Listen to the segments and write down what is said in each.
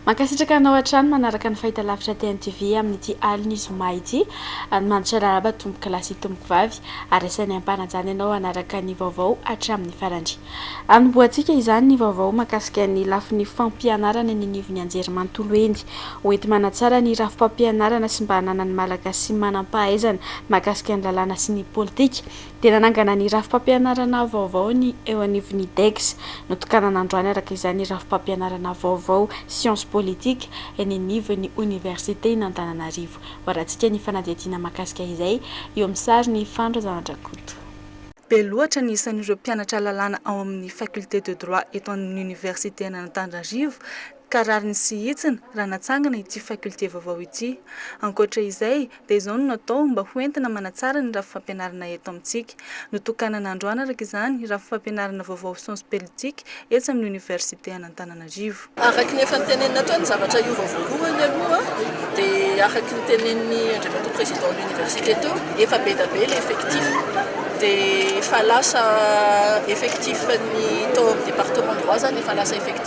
Mankasitraka anao hatrany manaraka ny fahitalavitra TNTV amin'ity alin'ny zoma ity. Mandiso arahaba tompokolahy sy tompokovavy ary asainay ampanajana ianao hanaraka ny vaovao hatramin'ny farany. Anombohantsika izany ny vaovao mahakasika ny lafiny fampianarana eny anivon'ny anjerimanontolo eny. Ho enti-manatsara ny rafi-pampianarana sy mba hananan'ny Malagasy manan-pahaizana mahakasika ny lalàna sy ny politika. dia nanangana ny rafi-pampianarana vaovao ny eo anivon'ny IDEGS. Notokanana androany araka izany ny rafi-pampianarana vaovao Sciences politiques eny anivon'ny Oniversiten'Antananarivo. Hoarantsika ny fanadihadiana mahakasika izay, eo amin'ny sarin'i Fano Razanandrakoto. Be loatra ny isan'ireo mpianatra lalàna ao amin'ny Faculté de droit eto an'ny Oniversiten'Antananarivo ka rariny sy hitsiny raha natsangana ity faculté vaovao ity. Ankoatra izay, dia izao no natao mba ho entina manatsara ny rafi-fampianarana eto amintsika. Notokanana androany araka izany rafi-fampianarana vaovao sciences peltiques etsy amin'ny Oniversite an'Antananarivo. Araky ny efa notenenina ato ny zavatra hiova voalohany aloha dia araky ny tenenin'i Andriamatoa Président an'Université teo, efa be dia be ilay effectif dia efa lasa effectif ny tao amin'ny département droit izany efa lasa effectif.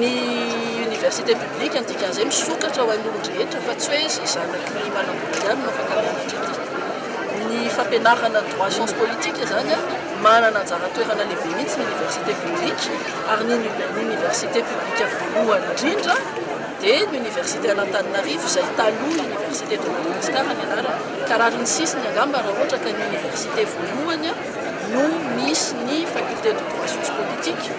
Ny Université publique ny dikan'izay misokatra ho an'ny olon-drehetra fa tsy hoe izay zanaky ny manambola ihany no afaka mianatra aty. Ny fampianarana droit science politique izany manana anjara toerana lehibe mihitsy ny Université publique ary ny Université publique voalohany indrindra dia ny Université an'Antananarivo izay taloha Université de Madagascar ny anarany ka rariny sisiny angamba raha ohatra ka ny Université voalohany no misy ny faculté de droit socio-politique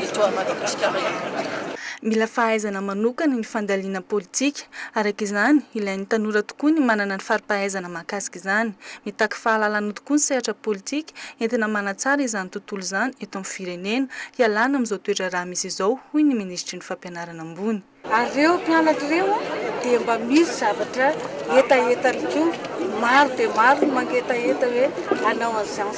eto à Madagasikara ihany koa. Mila fahaizana manokana ny fandalina politika, araka izany, ilain'ny tanora tokoa ny manana ny fari-pahaizana mahakasika izany. Mitaky fahalalana tokoa ny sehatra politika, entina manatsara izany tontolo izany eto amin'ny firenena, hialana amin'izao toedraharaha misy izao, hoy ny minisitry ny Fampianarana ambony. Ary ireo mpianatra ireo dia mba misy zavatra hetahetany koa. Maro dia maro ny mangetaheta hoe hanao an'izany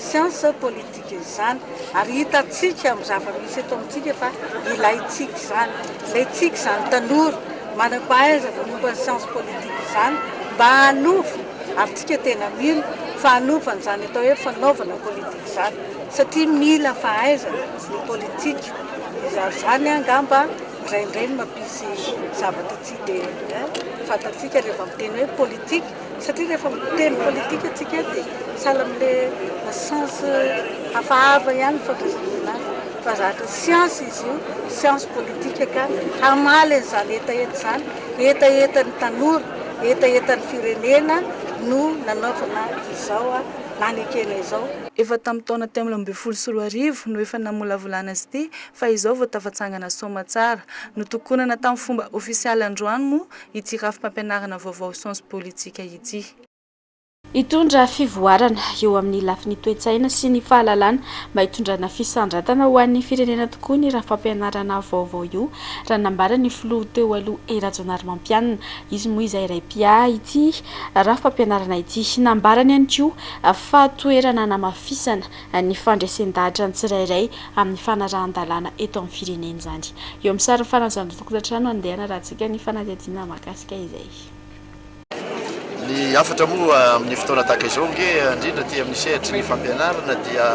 science politique izany. Ary hitantsika amin'ny zava-misy eto amintsika fa ilaintsika izany. Ilaintsika izany tanora manam-pahaizana momba ny science politique izany mba hanova, ary tsika tena mila, fa hanova an'izany atao hoe fanaovana politika izany. Satria mila fahaizana ny politika. Izany izany angamba indraindray no mampisy zavatra tsy dia eh, fantatsika rehefa miteny hoe politique, satria rehefa miteny politique antsika dia sahala amin'ilay sens hafahafa ihany ny fandraisana azy, fa zatra science izy io, science politique ka hamaly an'izany hetaheta izany, hetahetan'ny tanora, hetahetan'ny firenena no nanaovana izao nanekena izao. Efa tamin'ny taona telo ambin'ny folo sy roa arivo no efa namolavolana azy ity fa izao vao tafatsangana soamatsara. Notokonana tamin'ny fomba ofisialy androany moa ity rafi-pampianarana vaovao Sciences Politiques ity. Hitondra fivoarana eo amin'ny lafiny toe-tsaina sy ny fahalalana mba hitondrana fisandratana ho an'ny firenena tokoa ny rafi-pampianarana vaovao io raha nambara ny filoha teo aloha Hery Rajaonarimampianina. Izy moa izay iray mpiahy ity rafi-pampianarana ity. Nambarany ihany koa fa toerana hanamafisana ny fandresen-dahatra ny tsirairay amin'ny fanarahan-dalàna eto amin'ny firenena izany. Eo amin'ny sarin'ny faran'izany fotokantrano andeha hanarahantsika ny fanadihadiana mahakasika izay. Ny hafatra moa amin'ny fotoana tahaka izao ange, indrindra aty amin'ny sehatry ny fampianarana dia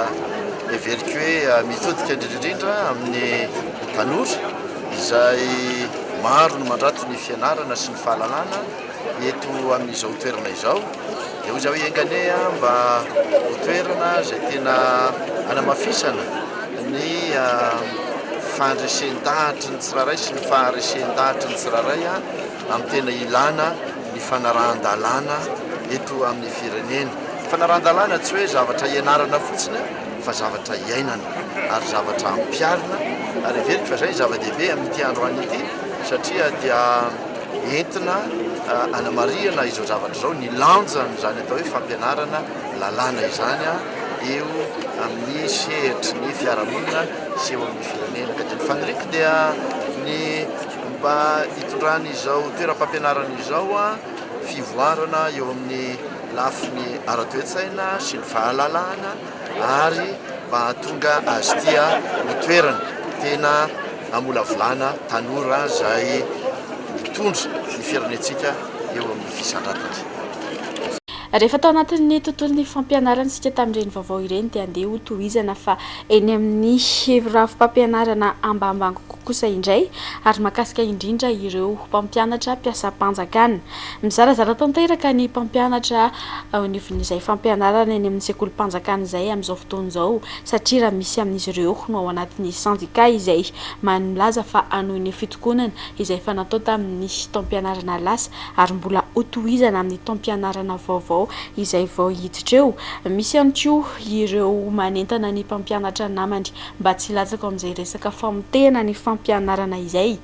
heveriko hoe mitodika indrindra indrindra amin'ny tanora izay maro no mandrato ny fianarana sy ny fahalalana, eto amin'izao toerana izao dia hoy za hoe enga anie a mba ho toerana izay tena anamafisana ny fandresen-dahatry ny tsirairay sy ny faharesen-dahatry ny tsirairay a amin'ny tena ilana ny fanarahan-dalàna eto amin'ny firenena fanarahan-dalàna tsy hoe zavatra ianarana fotsiny fa zavatra iainana ary zavatra ampiarina ary heveriko fa izay ny zava-dehibe amin'ity androany ity satria dia entina hanamarihana izao zavatra izao, ny lanjan'izany atao hoe fampianarana lalàna izany eo amin'ny sehatry ny fiarahamonina sy eo amin'ny firenena. Ka dia ny faniriako dia ny mba hitondran'izao toeram-pampianarana izao fivoarana eo amin'ny lafiny ara-toe-tsaina sy ny fahalalahana, ary mba hahatonga azy ity ho toerana tena hamolavolana tanora izay hitondra ny firenentsika eo amin'ny fisandratany. Rehefa tao anatin'ny tontolon'ny fampianarana isika tamin'ireny vaovao ireny dia andeha ho tohizana fa eny amin'ny rafi-pampianarana ambambango kokoa kosa indray ary mahakasika indrindra ireo mpampianatra mpiasam-panjakana. Mizarazara tanteraka ny mpampianatra ao anivon'izay fampianarana eny amin'ny sekolim-panjakana izay amin'izao fotoana izao satria raha misy amin'izy ireo no ao anatin'ny sendika izay maheno milaza fa hanohy ny fitokonana izay efa natao tamin'ny taom-pianarana lasa ary mbola hotohizana amin'ny taom-pianarana vaovao izay vao hiditra eo. Misy ihany koa ireo manentana ny mpampianatra namany mba tsy hilatsaka ao amin'izay resaka famotehana ny fampianarana izay.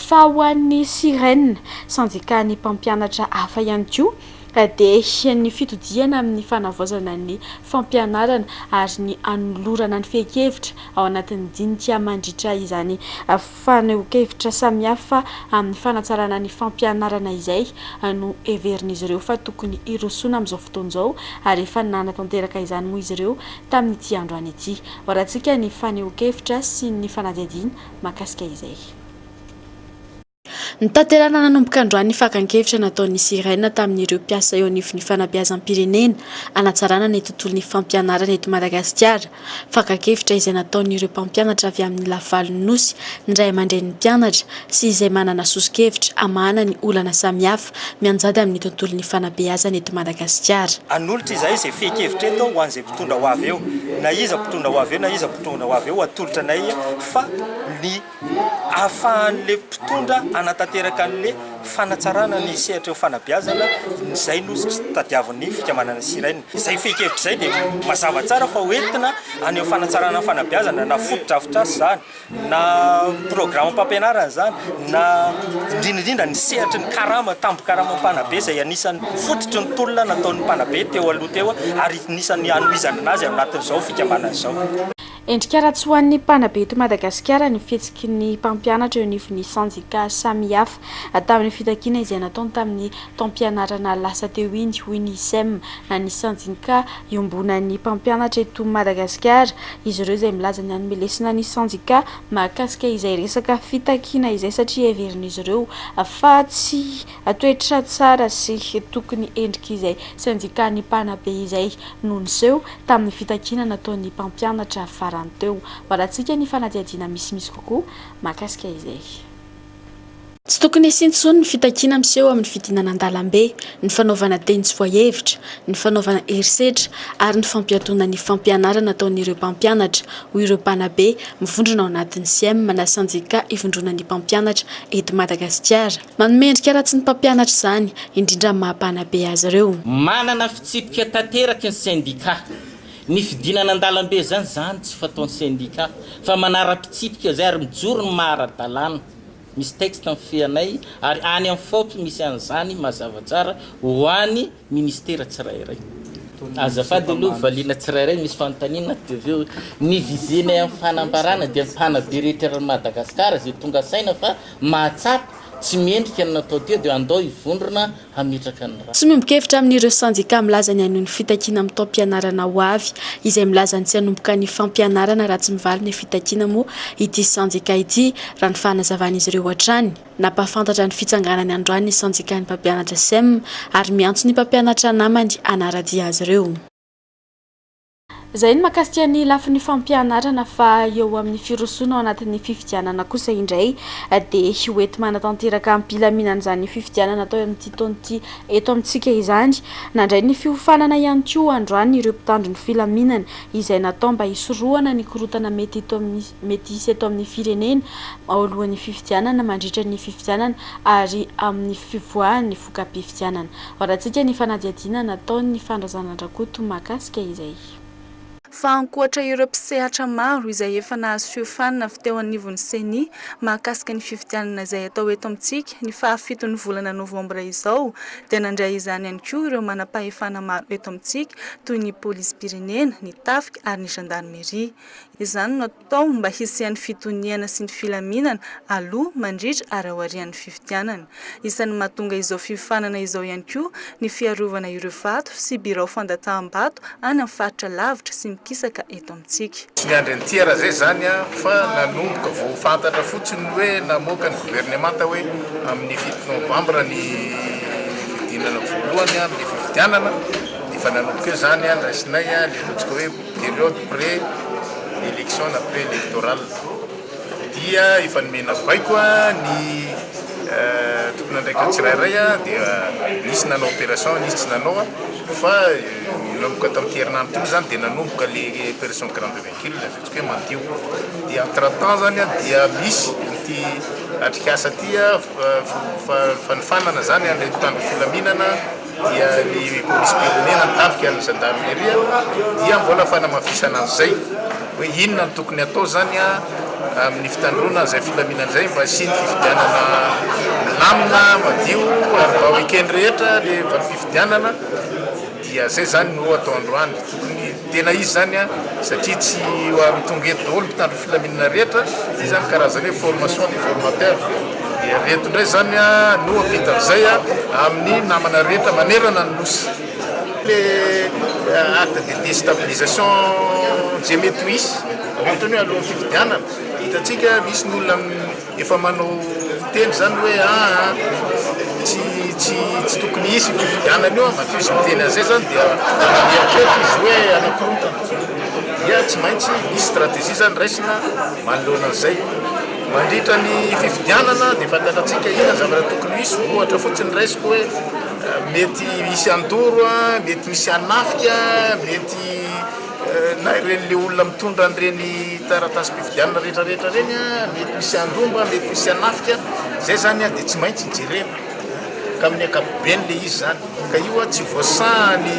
Fa ho an'ny Siren, sendikan'ny mpampianatra hafa ihany koa, dia ny fitodihana amin'ny fanavaozana ny fampianarana ary ny anolorana ny fehin-kevitra ao anatin'ny dinika mandritra izany fanehoan-kevitra samihafa amin'ny fanatsarana ny fampianarana izay no heverin'izy ireo fa tokony hirosoana amin'izao fotoana izao ary efa nanatanteraka izany moa izy ireo tamin'ity androany ity. Horahantsika ny fanehoan-kevitra sy ny fanadihadiana mahakasika izay. Notanterahina nanomboka androany ny fakan-kevitra nataon'ny Sirena tamin'ireo mpiasa eo anivon'ny fanabeazam-pirenena hanatsarana ny tontolon'ny fampianarana eto Madagasikara. Fakan-kevitra izay nataon'ireo mpampianatra avy amin'ny lavalon'ny Nosy, ny ray aman-drenin'ny mpianatra sy izay manana soso-kevitra hamahana ny olana samihafa. mianjady amin'ny tontolon'ny fanabeazana eto Madagasikara. Hanolotra izahay izay fehin-kevitra eto ho an'izay mpitondra ho avy eo, na iza mpitondra ho avy eo na iza mpitondra ho avy eo, hatolotra anay fa ny ahafahan'ilay mpitondra hanatanteraka an'ilay fanatsarana ny sehatr'eo fanabeazana, izay no tadiavin'ny fikambanana Sirhen. Izay fehin-kevitra izay dia mazava tsara fa ho entina any amin'ny fanatsarana ny fanabeazana na fotodrafitrasa izany. na programam-pampianarana izany na indrindra indrindra ny sehatry ny karama, tambin-karamam mpanabe izay anisan'ny fototry ny tolona nataon'ny mpanabe teo aloha teo ary anisan'ny hanohizana anazy ao anatin'izao fikambanana izao. Endrika ara-tsy ho an'ny mpanabe eto Madagasikara ny fihetsiky ny mpampianatra eo anivon'ny sendika samihafa. Tamin'ny fitakiana izay nataony tamin'ny taom-pianarana lasa teo iny, hoy ny Sem, na ny sendika iombonan'ny mpampianatra eto Madagasikara, izy ireo izay milaza ny hanome lesona ny sendika mahakasika izay resaka fitakiana izay satria heverin'izy ireo fa tsy toetra tsara sy tokony endrika izay sendikan'ny mpanabe izay no niseho tamin'ny fitakiana nataon'ny mpampianatra farany teo. Malatsika ny fanadihadiana misimisy kokoa mahakasika izay. Tsy tokony hisian tsony ny fitakiana miseho amin'ny fidinana an-dalambe, ny fanaovana teny tsy voahevitra, ny fanaovana herisetra ary ny fampiatoana ny fampianarana ataon'ireo mpampianatra, hoy ireo mpanabe mivondrona ao anatin'ny Siem na Sendika ivondronan'ny mpampianatra eto Madagasikara. Manome endrika ratsy ny mpampianatra izany, indrindra amin'ny maha mpanabe azy ireo. Manana fitsipika tanteraka ny Sendika. Ny fidinana an-dalambe izany izany tsy fataon'ny sendika fa manara-pitsipika izay ary mijoro ny maha ara-dalàna. Misy texte mifehanay ary any amin'ny fop misy an'izany mazava tsara ho any ministera tsirairay. Azafady aloha valiana tsirairay misy fanontaniana dia avy eo ny visenay amin'ny fanambarana dia ny mpanabe rehetra eran'i Madagasikara izay tonga saina fa mahatsapa tsy mendrika ny natao teo dia andao hivondrona hametraka ny rà. Tsy miombon-kevitra amin'ireo sendika milaza ny hanohy ny fitakiana amin'ny taom-pianarana ho avy. Izay milaza ny tsy hanomboka ny fampianarana raha tsy mivaly ny fitakiana moa ity sendika ity, raha ny fanazavan'izy ireo hatrany. Nampahafantatra ny fitsanganany androany ny sendikan'ny mpampianatra sem ary miantso ny mpampianatra namany hanara-dia azy ireo. Izay ny makasika ny lafiny fampianarana fa eo amin'ny firosoana ao anatin'ny fifidianana kosa indray dia ho ety manatanteraka am-pilaminana izany fifidianana atao amin'ity taona ity eto amintsika izany. Nandray ny fiofanana ihany koa androany ireo mpitandro ny filaminana izay natao mba hisorohana ny korontana mety eto amin'ny mety hisy eto amin'ny firenena ao alohan'ny fifidianana, mandritra ny fifidianana ary amin'ny fivoahan'ny voka-pifidianana. Varatsika ny fanadihadiana nataon'ny fandrazanan-dRakoto mahakasika izay. Fa ankoatra ireo mpisehatra maro izay efa nahasiofanina avy teo anivon'ny Ceni mahakasika ny fifidianana izay hatao eto amintsika ny fahafiton'ny volana novambra izao dia nandray izany ihany koa ireo manam-pahefana maro eto amintsika toy ny polisim-pirenena, ny tafika ary ny zandarimeria. Izany no Tao mba hisian'ny fitoniana sy ny filaminana aloha, mandritra ary aorian'ny fifidianana. Isan'ny mahatonga izao fiofanana izao ihany koa ny fiarovana ireo vato sy birao fandataham-bato any amin'ny faritra lavitra sy mikisaka eto amintsika. Tsy niandry an'ity RAZES izany aho fa nanomboka vao fantatra fotsiny ny hoe namoaka ny governemanta hoe amin'ny fito novambra ny fidinana voalohany amin'ny fifidianana. Efa nanomboka eo izany, niraisinay, niantsotsika hoe. Periode pré election na pré electorale dia efa nomena baiko ny tompon'andraikitra tsirairay dia nisy nanao opération nisy tsy nanao fa nanomboka tamin'ity herinandro ity moa zany dia nanomboka le opération grande véhicule ataontsika hoe mandio dia entre temps zany dia misy ity atrikasa ity fanofanana zany ilay mpitandro filaminana dia ny polisim-pirenena ny tafika ny zandarmeria dia mbola fanamafisana an'izay hoe inona no tokony hatao izany amin'ny fitandroana izay filaminana izay mba hisian'ny fifidianana milamina madio ary mba ho eken'ny rehetra ilay valim-pifidianana dia izay izany no atao androany tokony Tena izy zany an, satria tsy tonga eto daholo ny mpitandro filaminana rehetra, zay zany karazana hoe formation des formateurs, dia avy eto indray zany an no vita avizay an amin'ny namana rehetra manerana ny Nosy. Le acte de destabilisation je me touisse, antony hoe alohan'ny fifidianana, hitantsika misy ny olona. Efa manao miteny izany hoe aa tsy tsy tsy tokony hisy io fifidianana io an, matoa izy miteny an'izay izany dia mieritreritra izy hoe hanakorontana. Dia tsy maintsy misy stratégie izany raisina manoloana an'izay. Mandritra ny fifidianana dia fantatratsika inona ny zavatra tokony ho hisy, ohatra fotsiny raisiko hoe mety hisy handoro an, mety misy hanafika an, mety. na ireny le olona mitondra an'ireny taratasim-pifidianana rehetra rehetra ireny a, mety misy handromba, mety misy hanafika, izay izany a dia tsy maintsy jerena ka amin'ny ankapobeny le izy izany, ka io a tsy voasahan'ny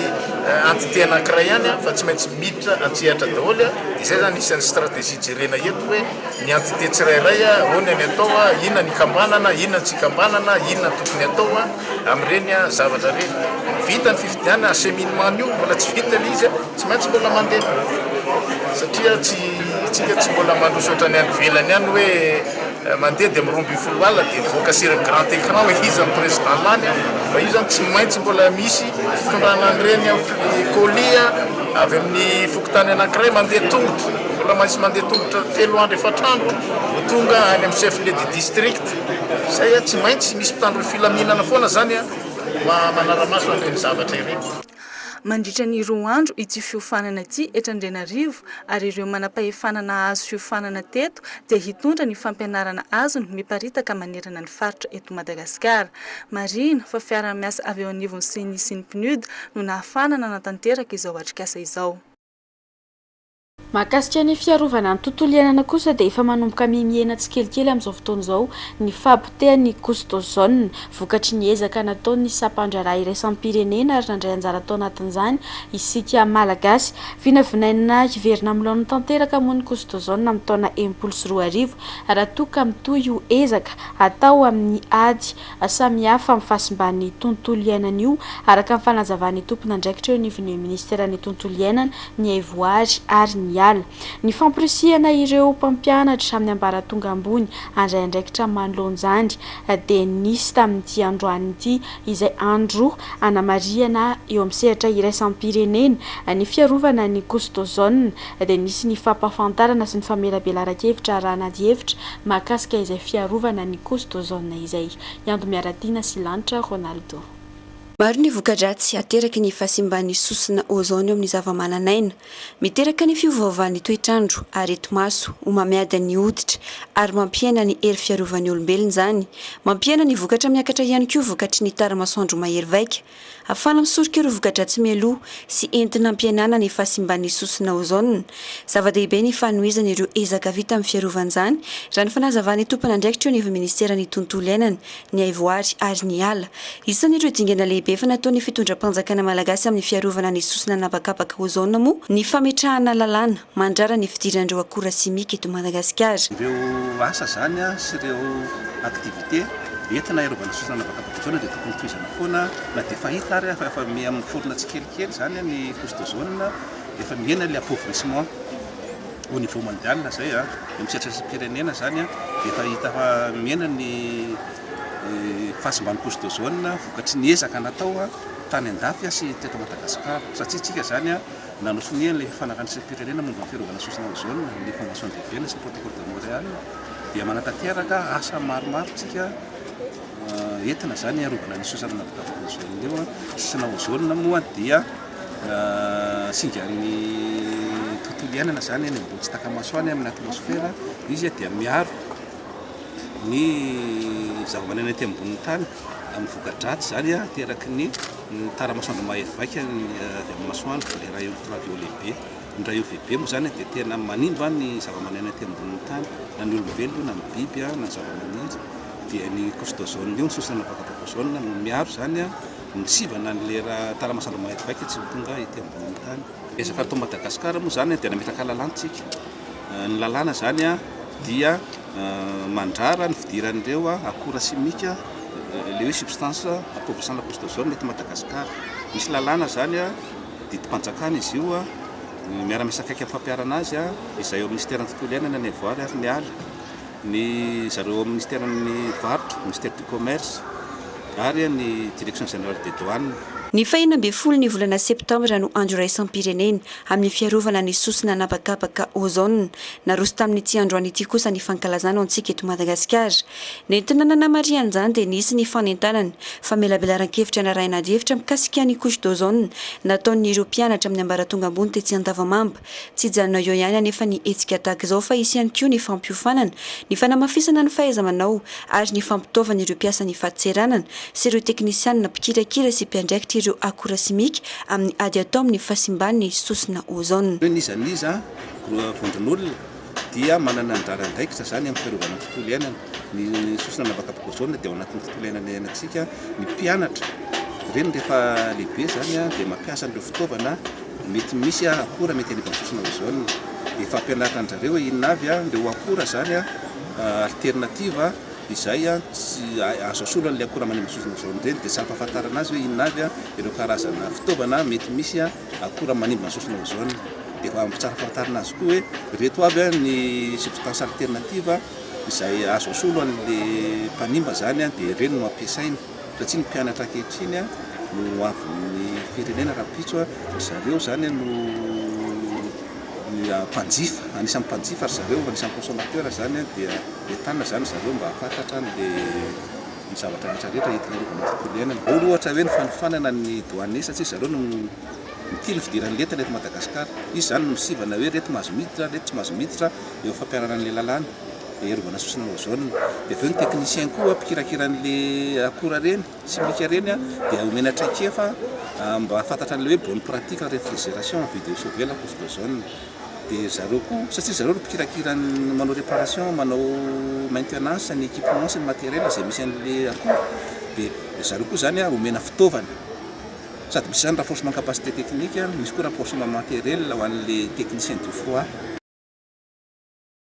entité anankiray ihany a fa tsy maintsy miditra an-tsehatra daholo a, dia izay izany isan'ny stratégie jerena eto hoe ny entité tsirairay a ahoana ny atao a, inona ny ikambanana, inona ny tsy ikambanana, inona ny tokony atao a. Amin'ireny zavatra ireny, vita ny fifidianana, acheminement an'io mbola tsy vita ilay izy, tsy maintsy mbola mandeha satria tsy isika tsy mbola mandroso ohatran'ny any ivelany any hoe mandeha dia miroa ambin'ny folo alina dia mivoaka sur le grand écran hoe iza no président lany fa io zany tsy maintsy mbola misy fitondrana an'ireny colis avy amin'ny fokontany anankiray mandeha tongotra mbola maintsy mandeha tongotra telo andro efatr'andro vao tonga any amin'ny chef lieu du district Izay a, tsy maintsy misy mpitandro ny filaminana foana izany a, mba manara-maso an'ireny zavatra ireny. Mandritra ny roa andro ity fiofanana ity eto Andrianarivo ary ireo manam-pahefana nahazo fiofanana teto dia hitondra ny fampianarana azony miparitaka manerana ny faritra eto Madagasikara. Marihina fa fiaraha-miasa avy eo anivon'ny Ceni sy ny PNUD no nahafahana nanatanteraka izao atrikasa izao. Mahakasika ny fiarovana ny tontolo iainana kosa dia efa manomboka mihemihena tsikelikely amin'izao fotoana izao ny fahapotehan'ny couche d'ozone vokatry ny ezaka nataon'ny sampandraharaha iraisam-pirenena ary nandray anjara tao anatin'izany isika Malagasy. Vinavinaina hiverina amin'ny laoniny tanteraka moa ny couche d'ozone amin'ny taona enimpolo sy roa arivo raha toa ka mitohy io ezaka atao amin'ny ady samihafa amin'ny fahasimban'ny tontolo iainana io, araka ny fanazavan'ny tompon'andraikitra eo anivon'ny minisiteran'ny tontolo iainana, ny haivoary ary ny ala. Ny famporisihana ireo mpampianatra amin'ny ambaratonga ambony handray andraikitra manoloan'izany dia nisy tamin'ity androany ity, izay andro hanamarihana eo amin'ny sehatra iraisam-pirenena ny fiarovana ny kosy d'ozone, dia nisy ny fampahafantarana sy ny famelabelaran-kevitra arahana adihevitra mahakasika izay fiarovana ny Coast d'Ozone izay hiandry Miaratiana sy Lanitra Ronaldo. Maro ny voka-dratsy ateraky ny fahasimban'ny sosona ozone eo amin'ny zavamananaina. Miteraka ny fiovaovan'ny toetr'andro, areti-maso, homamiadan' ny hoditra, ary mampihena ny hery fiarovan'ny olombelona izany. Mampihena ny vokatra miakatra ihany koa vokatry ny tara-masoandro mahery vaika, Afala misoroka ireo voka-dratsy mialoha sy entina hampihenana ny fahasimban'ny sosona ozona. Zava-dehibe ny fanohizana ireo ezaka vita amin'ny fiarovan-jany, raha ny fanazavan'ny tompon'andraikitra eo anivon'ny minisiteran'ny Tontolo iainana, ny haivoary ary ny ala. Isan'ireo dingana lehibe efa nataon'ny fitondram-panjakana malagasy amin'ny fiarovana ny sosona an'habakabaka ozona moa ny fametrahana lalàna, mandrara ny fidiran'ireo akora simika eto Madagasikara. Ireo asa izany sy ireo activités entina hiarovana sy fananavaka protozoana dia tokony tohizana foana na dia fahita ary fa efa miha miforona tsikelikely izany ny prostozoana, efa mihena ilay appauvrissement au niveau mondial izay dia amin'ny sehatra isam-pirenena izany dia efa hita fa mihena ny fahasimban'ny prostozoana vokatry ny ezaka natao tany an-dafy sy teto Madagasikara satria isika izany Nanontsonia ilay Fanjakana Isam-pirenena momba ny Fiarovana Sosona Ozona, ny Convention de Vienne sy ny Protocole de Montréal, dia manatanteraka asa maromaro tsika entina izany hiarovana ny sosona nahavitavita ozona io. Sosona ozona moa dia singan'ny tontolo iainana izany eny ambony tsy taka-maso any amin'ny atmosfera. Izy dia miaro ny zavamanana ety ambonin'ny tany amin'ny voka-dratsy izany ateraky ny Ny taramasoandro mahia vaika ny avy amin'ny masoandro dia raha io ravio lehibe, ny ravio lehibe moa izany dia tena manimba ny zavamaneno ety ambonin'ny tany na ny olombelona io na ny biby na ny zavamaniry dia ny couche d'ozone io ny sosona vata ozone no miaro izany ny sivana an'ilay raha taramasoandro mahia vaika tsy ho tonga ety ambonin'ny tany. Ezaka atao Madagascar moa izany dia nametraka lalantsika. Ny lalàna izany dia mandrara ny fidiran'ireo akora simika, ilay hoe substances appauvrissant la pousse d'ozone eto Madagasikara. Misy lalàna izany, didim-panjakana izy io, miara-miasa akaiky amin'ny fampiharana azy izay ao amin'ny Minisiteran'ny tontolo iainana ny avoary ary ny ala, ny zareo ao amin'ny Minisiteran'ny varotra, Ministère du Commerce, ary ny Direction générale des douanes. Ny fahena ambin'ny folo ny volana septambra no Andro iraisam-pirenena. Amin'ny fiarovana ny sosona an'habakabaka ozone, naroso tamin'ity androany ity kosa ny fankalazana ho antsika eto Madagasikara. Nentina nanamarihana izany dia nisy ny fanentanana famelabelaran-kevitra narahina adihevitra mikasika ny couche d'ozone nataon'ireo mpianatra amin'ny ambaratonga ambony tetsy Andavamamba. Tsy hijanona eo ihany anefa ny hetsika tahaka izao fa hisy ihany koa ny fampiofanana, ny fanamafisana ny fahaiza-manao ary ny fampitaovana ireo mpiasan'ny fadintseranana sy ireo teknisianina mpikirakira sy mpiandraikitra ireo akora simika amin'ny ady atao amin'ny fahasimban'ny sosona ozona. Hoe n'iza n'iza gros vondron'olona dia manana anjara andraikitra izany amin'ny fiarovana ny tontolo iainana. Ny sosona anabakaboka ozona dia ao anatin'ny tontolo iainana iainantsika. Ny mpianatra ireny rehefa lehibe izany dia mampiasa an'ireo fitaovana mety misy akora mety hanimba ny sosona ozona. Efa ampianarina an-dry zareo hoe inona avy ireo akora izany alternative. Izay tsy azo asolo an'ilay akora manimba sofina izao indray no dia tsy ampahafantarana azy hoe inona avy ireo karazana fitaovana mety misy akora manimba ny sofina ozone. Dia efa tsara fantarina azy koa hoe ireto avy ny substances alternatives izay azo asolo an'ilay mpanimba izany dia ireny no ampiasaina. Raha tsy ny mpianatra ankehitriny no ho avin'ny firenena rahampitso, ry zareo izany no mpanjifa, anisan'ny mpanjifa ry zareo, anisan'ny consommateur izany dia entanina izany ry zareo mba hahafantatra ny zavatra rehetra rehetra entina hiarovana ny tontolo iainana. Ao ry ohatra hoe ny fanofanana ny douane satria ry zareo no mitia ny fidiran'ny lentana eto Madagasikara. Izy izany no misivana hoe ireto mahazo miditra, ireto tsy mahazo miditra eo amin'ny fampiharana an'ilay lalàna. hiarovana sosona ozone, dia avy eo ny technicien koa mpikirakira an'le akora reny simika reny a dia omena traikefa mba hahafantatra an'le hoe bonne pratique en refrigeration vide de sauver la couche d'ozone dia zareo koa satria zareo no mpikirakira ny manao reparation manao maintenance ny equipement sy ny materiel zay misy an'le akora dia zareo koa zany a omena fitaovana sady misy zany renforcement capacité technique a misy koa renforcement materiel ho an'le technicien du froid.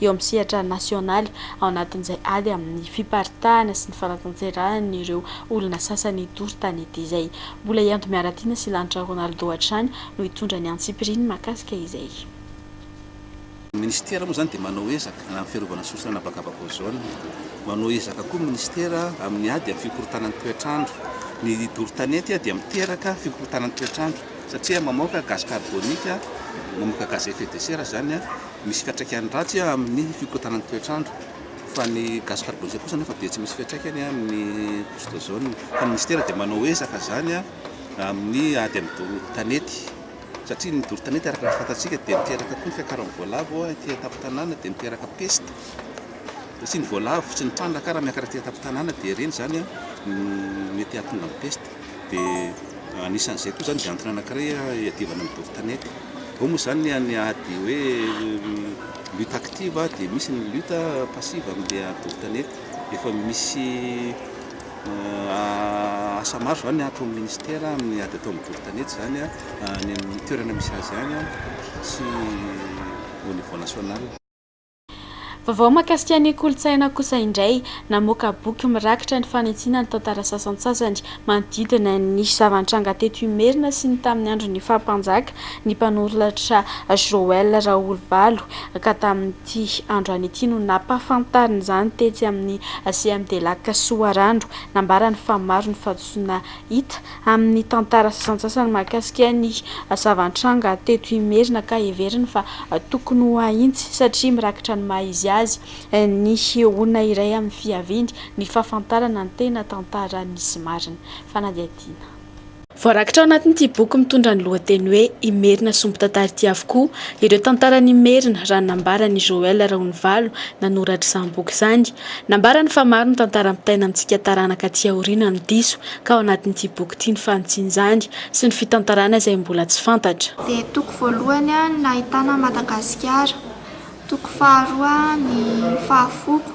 eo amin'ny sehatra nasionaly, ao anatin'izay ady amin'ny fiparitahana sy ny fanatanterahana ireo olona sasany doro tany ity izay. Mbola i Ando Miaratiana sy Lanitra Ronaldo hatrany no hitondra ny antsipiriany mahakasika izay. Ny minisitera moa izany dia manao ezaka amin'ny fiarovana sosotra an'habakabaka ozona. Manao ezaka koa ny minisitera amin'ny ady amin'ny fikorontanan'ny toetr'andro. Ny doro tanety dia miteraka fikorontanan'ny toetr'andro satria mamoaka gaz carbonique, mamoaka gaz à effet de serre izany. misy fiantraikany ratsy amin'ny fikotanan'ny toetr'andro fa ny gaz carbonisé kosa anefa dia tsy misy fiantraikany amin'ny couche d'ozone fa ny minisitera dia manao ezaka izany amin'ny ady amin'ny doro tanety satria ny doro tanety araka ny fantatsika dia miteraka koa ny fiakaran'ny voalavo ao aty an-tampon-tanàna dia miteraka peste satria ny voalavo sy ny trandraka raha miakatra aty an-tampon-tanàna dia ireny izany no mety hahatonga ny peste dia anisan'izay koa izany dia antony anankiray hiadivana ny doro tanety. Ao moa izany ny ny ady hoe lutte active dia misy ny lutte passive amin'ilay ady doro tanety. Efa misy asa maro izany ataon'ny ministera amin'ny ady atao amin'ny doro tanety izany any amin'ny toerana misy azy any sy au niveau national. Vaovao mahakasika ny kolontsaina kosa indray, namoaka boky mirakitra ny fanitsiana ny tantara sasantsasany manodidina ny zava-nitranga teto Imerina sy ny tamin'ny andron'ny faha-mpanjaka ny mpanoratra Joël Raholovalo ka tamin'ity androany ity no nampahafantariny izany tetsy amin'ny CMDLac Soarano. Nambarany fa maro ny fahadisoana hita amin'ny tantara sasantsasany mahakasika ny zava-nitranga teto Imerina ka heveriny fa tokony ho hahintsy satria mirakitra ny maha izy azy ny olona iray amin'ny fiaviany ny fahafantarana ny tena tantara nisy marina. Fanadihadiana. Voarakitra ao anatin'ity boky mitondra ny lohateny hoe Imerina sombin-tantara ity avokoa ireo tantaran'Imerina raha ny nambaran'i Joël Raonivalo nanoratra izany boky izany. Nambarany fa maro ny tantara ampitaina amintsika taranaka aty aoriana no diso ka ao anatin'ity boky ity ny fanitsian'izany sy ny fitantarana izay mbola tsy fantatra. Dia toko voalohany ny nahitana an'i Madagasikara, toko faharoa ny fahafoko,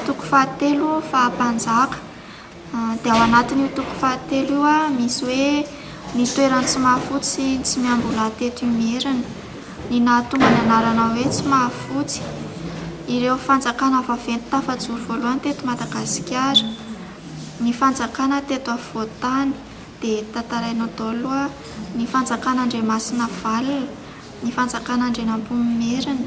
toko fahatelo faha-mpanjaka, dia ao anatin'io toko fahatelo io misy hoe ny toeran'i Tsimahafotsy sy Tsimiambola teto Imerina, ny nahatonga ny anarana hoe Tsimahafotsy, ireo fanjakana vaventy tafajoro voalohany teto Madagasikara. Ny fanjakana teto afovoan-tany dia tantarainao daholo ny fanjakana Andriamasinavalona, ny fanjakana Andrianampoinimerina,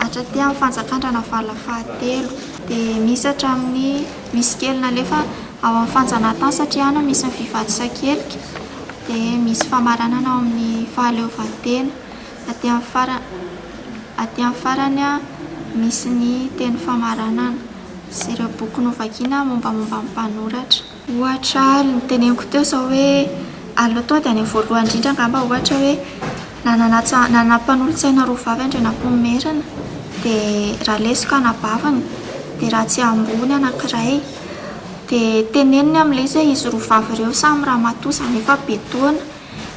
hatraty amin'ny fanjakan-dRanavalona fahatelo. Dia misy hatramin'ny misy kely nalefa ao amin'ny fanjanahantany satria any no misy ny vehivavy sakelika, dia misy famaranana ao amin'ny fahaleovantena. Aty amin'ny farany, aty amin'ny farany misy ny teny famaranana. sy ireo boky novakina mombamomba ny mpanoratra. Ohatra, ary noteneniko teo izao hoe, aleo tonga dia any amin'ny voalohany indrindra angamba ohatra hoe, nanana nanana mpanolotsaina roa vavy Andrianampoinimerina, dia Raleso ka anabaviny, dia Ratsiambony anankiray. Dia teneniny amin'ilay izy hoe izy roa vavy ireo samy ramatoa, izany hoe efa be taona,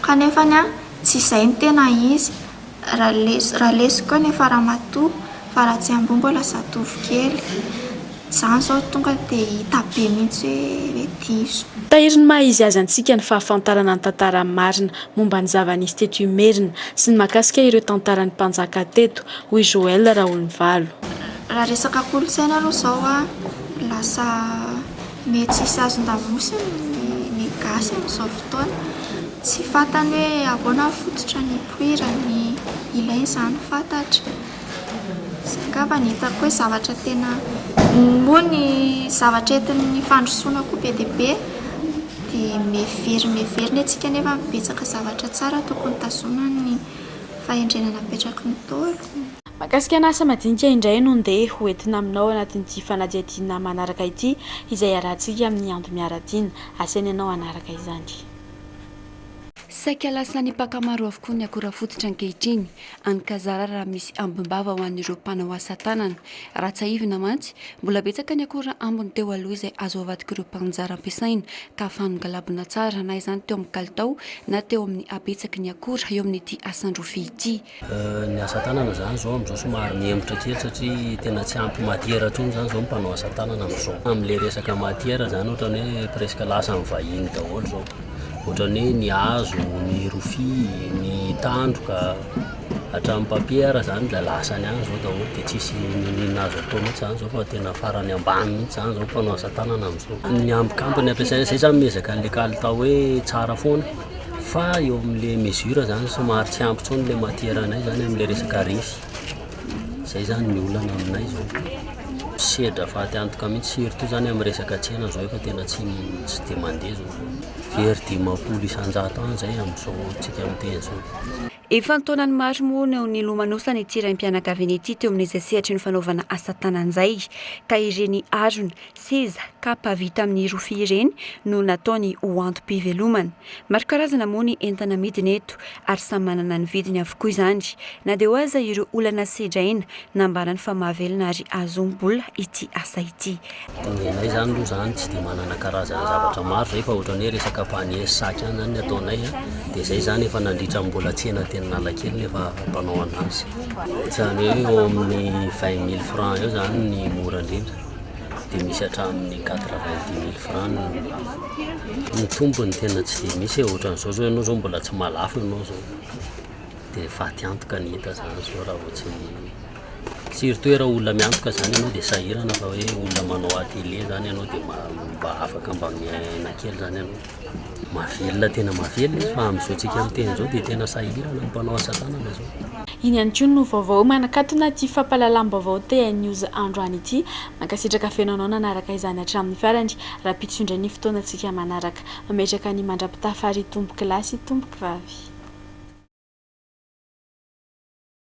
kanefany an, tsy izay ny tena izy. Raleso raleso koa nefa ramatoa fa raha tsy amboa mbola zatovokely. Izaho izao tonga dia hita be mihitsy hoe hoe diso. Tahiry ny maha izy azy antsika ny fahafantarana ny tantara marina momba ny zava-nisy teto Imerina sy ny mahakasika ireo tantaran'ny mpanjaka teto, hoy Joël Raholivalo. Raha resaka kolontsaina aloha izao a, lasa mety tsy hisy hazon-damosiny ny gasy amin'izao fotoana. Tsy fantany hoe ahoana ny fototrany. toerany ilay izany fantatra izay angamba no hitako hoe zavatra tena moa ny zavatra entin'ny fandrosoana koa be dia be dia miverina miverina isika nefa betsaka zavatra tsara tokony tazomina ny fahendrena napetraky ny Ntaolo. Mahakasika ny asa madinika indray no ndeha ho entina aminao anatin'ity fanadihadiana manaraka ity izay hiarahantsika amin'ny Andry Miaratiana. Asena ianao hanaraka izany. Saika lasan'ny mpaka maro avokoa ny akora fototra ankehitriny, any ka zara raha misy ambim-bava ho an'ireo mpanao asa tanana. Raha tsiahivina mantsy, mbola betsaka ny akora ambiny teo aloha izay azo avadik'ireo mpaninjara ampiasaina ka fanongalabona tsara na izany teo amin'ny kalitao na teo amin'ny habetsaky ny akora eo amin'ity asan-drofia ity. Ny asa tanana zany zao amzao somary mihemotra kely satria tena tsy ampy matiera tsony zany zao ny mpanao asa tanana amzao amle resaka matiera zany otrany hoe presque lasa am vahiny daholo zao otrany hoe ny hazo ny rofia ny tandroka hatram papier zany de lasa any zao daholo de tsisy ino no ino azo atao mintsy zany zao fa tena farany ambany mintsy zany zao mpanao asa tanana amzao ny ambiny ambiny ampiasaina zay zany mihezaka anle kalitao hoe tsara foana Fa eo amin'ilay mesure zany somary tsy ampy intsony ilay matière anay zany amin'ilay resaka refy. Izay zany ny olana aminay izao. Misedra fatiantoka mihitsy surtout zany amin'ny resaka tsena izao efa tena tsy tsy dia mandeha izao. Very dimampolo isan-jato any izay amin'izao antsika miteny izao. Efa an-taonany maro moa no nilomanosana ity raim-pianakaviana ity teo amin'izay sehatry ny fanaovana asa tanana izay, ka ireny harona, Seza, kapa vita amin'ny rofia ireny no nataony ho antom-pivelomana. Maro karazana moa ny entana amidiny eto ary samy manana ny vidiny avokoa izany. Na dia eo aza ireo olana sedraina, nambarany fa mahavelona ary ahazoam-bola ity asa ity. Ny anay izany aloha izany tsy dia manana karazana zavatra maro izay fa ohatran'ny hoe resaka panier sy sac ihany izany ny ataonay dia izay izany efa nandritra ny mbola tsena teny Analakely no efa mpanao an'azy. Ohatran'ny hoe eo amin'ny vingt mille francs eo izany ny mora indrindra. dia misy hatramin'ny quatre vingt dix mille franc ny tombony tena tsy dia misy e ohatran'izao zao ianao zao mbola tsy mahalafo ianao zao dia faty antoka ny hita zany zao raha vao tsy surtout raha olona miantoka zany ianao dia sahirana fa hoe olona manao atelier zany ianao dia mba afaka mba miaina kely zany ianao Mahavelona tena mahavelona izy fa amin'izao tsika miteny izao dia tena sahirana ny mpanao asa tanana izao. Iny ihany koa no vaovao manakatona ity fampahalalam-baovao TNews androany ity. Mankasitraka feno anao nanaraka izany hatramin'ny farany. Rahampitso indray ny fotoanantsika manaraka. Mametraka ny mandra-pitafa ry tompokolahy sy tompokvavy.